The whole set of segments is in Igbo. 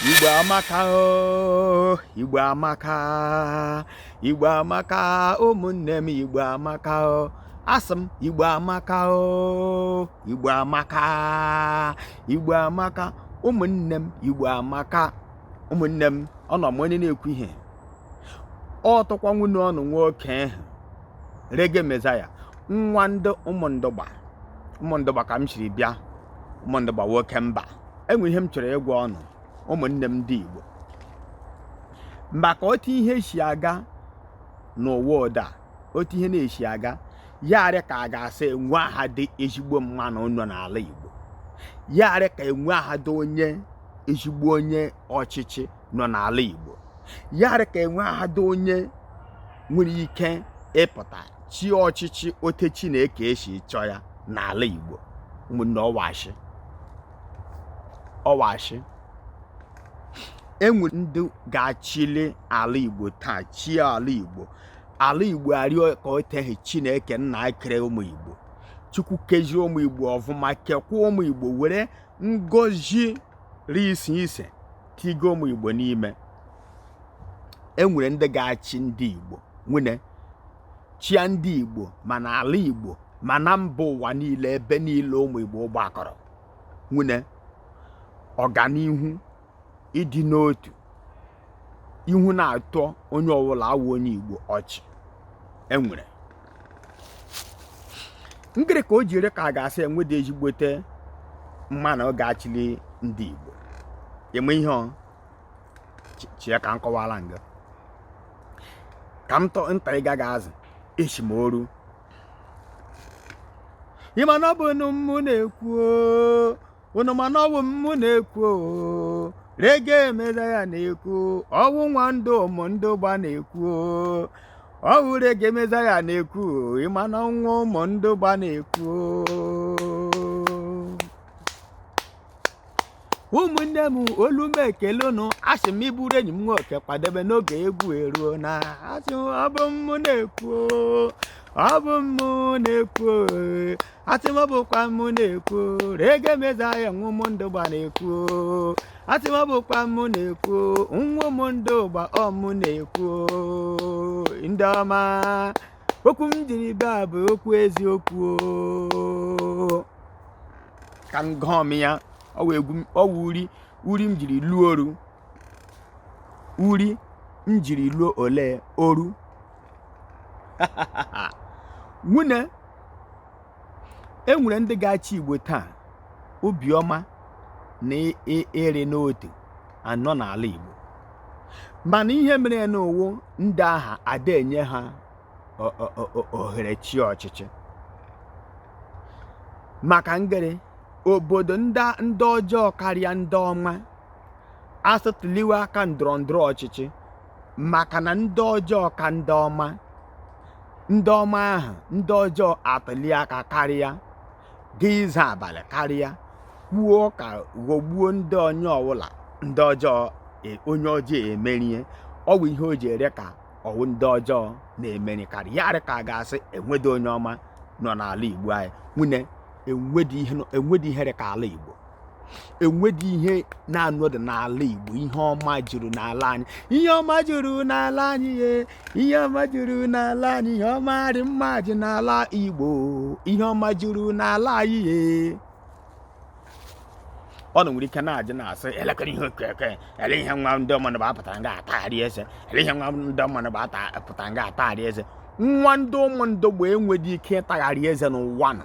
Igbo amaka o Igbo amaka Igbo amaka ụmụnne m Igbo amaka o asị m Igbo amaka o Igbo amaka Igbo amaka ụmụnne m Igbo amaka ụmụnne m ọnụ ma onye na-ekwu ihe ọ wụkwa nwanne ọnụ nwoke ahụ Reggae Messiah nwa ndị ụmụndụgba ụmụndụgba ka m siri bịa ụmụndụgba nwoke mba enwe ihe m chọrọ ịgwa ọnụ ụmụnne m ndị igbo maka otu ihe si aga n'ụwa ụda otu ihe na-esi aga ya arị ka a ga-asị enwehadị ezigbo mmanụ nọ n'ala igbo ya arị ka enwehadị onye ezigbo onye ọchịchị nọ n'ala igbo ya arị ka enwehadị onye nwere ike ịpụta chịa ọchịchị otu Chineke si chọọ ya n'ala Igbo ụmụnne ọ wụ ashị ọ wụ ashị enwere ndị ga-achịli ala Igbo taa chịa ala Igbo ala Igbo arị ka otu ahụ Chineke nna kere ụmụ Igbo Chukwu kezie ụmụ Igbo ọfụma kekwa ụmụ Igbo were ngozi rị iche iche tighe ụmụ igbo n'ime enwere ndị ga-achị ndị igbo nwene chịa ndị igbo ma na ala igbo ma na mba ụwa niile ebe niile ụmụ igbo gbakọrọ nwene ọganihu ịdị n'otu ihu na-atọ onye ọbụla awụ onye igbo ọchị enwere ngịrị ka o ji arị ka a ga-asị enwede ezigbote mmanụ ga-achịli ndị Igbo eme ihe ọ chie ka m kọwara nga ka m tọ nta ịga ga azụ echi m oru ịma na ọ bụnụ mụ na-ekwu unu ma na ọ bụ mụ na-ekwu oo Reggae Messiah na-ekwu ọ wụ nwa ndị ụmụndụgba na-ekwu oo ọ wụ Reggae Messiah na-ekwu oo ịma na ọ nwa ụmụndụgba na-ekwu oo ụmụnne m olu m ekele unu asị m ị bụrụ enyi m nwoke kwadebe n'oge egwu eruo na asị m ọ bụ mụ na-ekwu oo, ọ bụ mụ na-ekwu oo. asị m ọ bụkwa mụ na-ekwu Reggae Messiah nwa ụmụndụgba na-ekwu asị m ọ bụkwa mụ na-ekwu nwa ụmụndụgba ọ mụ na-ekwu ndị ọma okwu m jiri bịa bụ okwu eziokwu ka m gụọ m ya ọ wụ egwu m- ọ wụ uri uri m jiri lụọ ọrụ uri njiri ruo ole oru nwunne enwere ndị ga-achị igbo taa obiọma na ịrị n'otu anọ n'ala igbo mana ihe mere nụ wụ ndị ahụ adị enye ha ohere chịa ọchịchị maka ngere obodo ndị ọjọọ karịa ndị ọma a sị tụliwe aka ndọrọ ndọrọ ọchịchị maka na ndị ọjọọ ka ndị ọma ndị ọma ahụ ndị ọjọọ atụli aka karịa gaa izu abalị karịa kwuo ọka ghọgbuo ndị onye ọwụla ndị ọjọọ e- onye ọjọọ emerie ọ wụ ihe o ji rị ka ọ wụ ndị ọjọọ na-emeri karị ya rị ka a ga-asị enwedụ onye ọma nọ n'ala igbo anyị nwunne enwedị ihe nọ- enwedị ihe rị ka ala igbo enwedị ihe na-anọdụ n'ala Igbo ihe ọma juru n'ala anyị ihe ọma juru n'ala anyị ye ihe ọma juru n'ala anyị ihe ọma rị mma ju n'ala Igbo ihe ọma juru n'ala anyị ye unu nwere ike na-ajụ na-asị elekere ihe okeke ele ihe nwa ndị Umundugba pụtara nga atagharị eze ele ihe nwa ndị Umundugba pụtara nga atagharị eze nwa ndị Umundugba enwedị ike ịtagharị eze n'ụwa nọ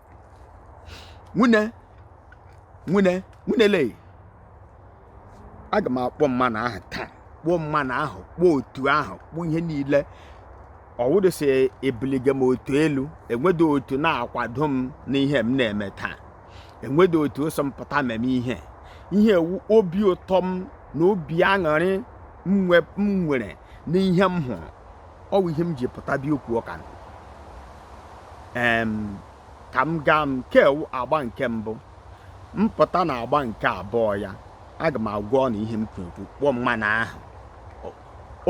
nwunne nwunne nwunne lee aga m akpọ mmanụ ahụ taa kpọọ mmanụ ahụ kpọọ otu ahụ kpọọ ihe niile ọ wụdụ sị ebuliga m otu elu enwedụ otu na-akwado m n'ihe m na-eme taa enwedụ otu sị m pụta meme ihe ihe wụ obi ụtọ m na obi aṅụrị m nwere n'ihe m hụrụ ọ wụ ihe m ji pụta bịa kwuo ọka ka m gaa nke wụ agba nke mbụ m pụta na agba nke abụọ ya aga m agwa unu ihe m kwuru kpọọ mmanụ ahụ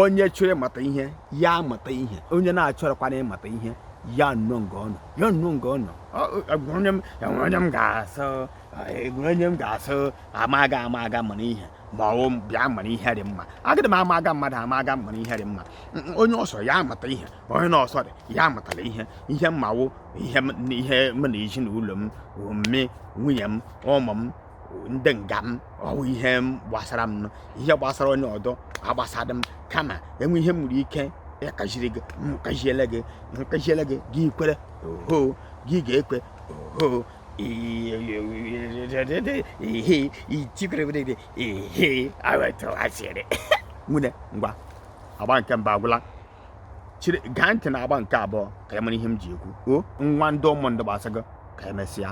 onye chọrọ ịmụta ihe ya mụta ihe onye na-achọrọkwana ịmụta ihe ya nọọ nga ọ nọ ya nọọ nga ọ nọ onye m ga-asị enwere onye m ga-asị amaga amaga mara ihe ma ọ wụ bịa mara ihe rị mma agadị m amaga mmadụ amaga mara ihe rị mma onye ọ sọ ya mụta ihe onye na ọ sọdị ya amụtala ihe ihe m ma wụ ihe ihe m na ezinụlọ m mme nwunye m ụmụ m ndị nga m ọ wụ ihe gbasara m ihe gbasara onye ọdọ agbasadị m kama e nwee ihe m nwere ike ịkaziri gị m kaziele gị m kaziele gị gị kwere oho gị ga-ekwe oho nwunne ngwa agba nke mbụ agwụla chere gee ntị na agba nke abụọ ka a mara ihe m ji ekwu ọ nwa ndị Umundugba sị gị ka emesịa